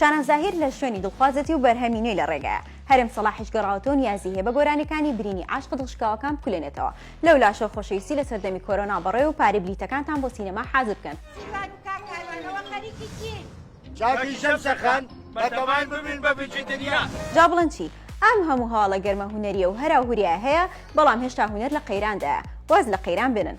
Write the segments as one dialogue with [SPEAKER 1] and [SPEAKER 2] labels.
[SPEAKER 1] شاناز زاهیر لە شوێنی دڵخوازەتی و بەرهەمی نوێی لە ڕێگایە هەرێم سەڵاحیش گەڕاوەتەوە نیازی هەیە بە گۆرانیەکانی برینی عاشق دڵشکاوەکان بکولێنێتەوە لەو لاشە خۆشەویستی لە سەردەمی کۆرۆنا بەڕێ و پارەی بلیتەکانتان بۆ سینەما حازر بکەن چاکی
[SPEAKER 2] شەم سەخان بەتەمان ببین بە بچی دنیا جا بڵێن چی
[SPEAKER 1] ئەم هەموو هەواڵە گەرمە هوەریە و هەرا هوریا هەیە بەڵام هێشتا هوەر لە قەیراندایە واز لە قەیران بێنن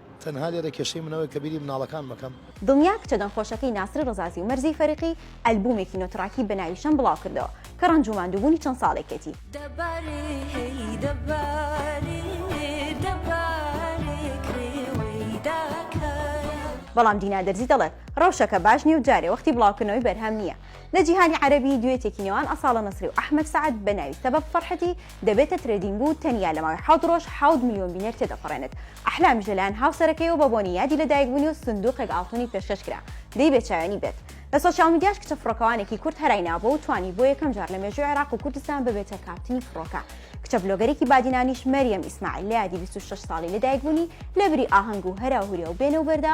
[SPEAKER 3] تەنها لێرە کێشەی من ئەوەیە کە بیری مناڵەکانم ئەکەم. دڵنیا کچە دەنگخۆشەکەی
[SPEAKER 1] ناسر رەزازی و مەرزیی فەریقی ئەلبوومێکی نۆ تراکی بە ناوی شەم بڵاوکردەوە کە رەنج و ماندووبوونی چەند ساڵێکێتی. بەڵام دینا دەرزی دەڵێت، رەوشەکە باش نییە و جارێ وەختی بڵاوکردنەوەی بەرهەم نییە. لە جیهانی عەرەبی، دوێتێکی نێوان ئەساڵە نەسری و ئەحمەد سەعد بە ناوی سەبەب فەرحەتی دەبێتە ترێدینگ و تەنیا لە ماوەی حەوت رۆژ حەوت ملیۆن بینەر تێدەپەڕێنێت، ئەحلامیش لەلایەن هاوسەرەکەیەوە بە بۆنەی یادی لەدایکبوونی و سندووقێک ئاڵتونی پێشکەش کرا، دەی بێچاوێنی بێت؟ لە سۆشیال میدیاش کچە فڕۆکەوانێکی کورد هەرای ناوبووە و توانی بۆ یەکەم جار لە مێژووی عێراق و کوردستان ببێتە کاپتنی فڕۆکە، کچە ڤلۆگەرێکی بادینانیش مەریەم ئیسماعیل لە یادی بیست و شەش ساڵی لەدایکبوونی لەبری ئاهەنگ و هەراو هوریا و بێنە و بەردا،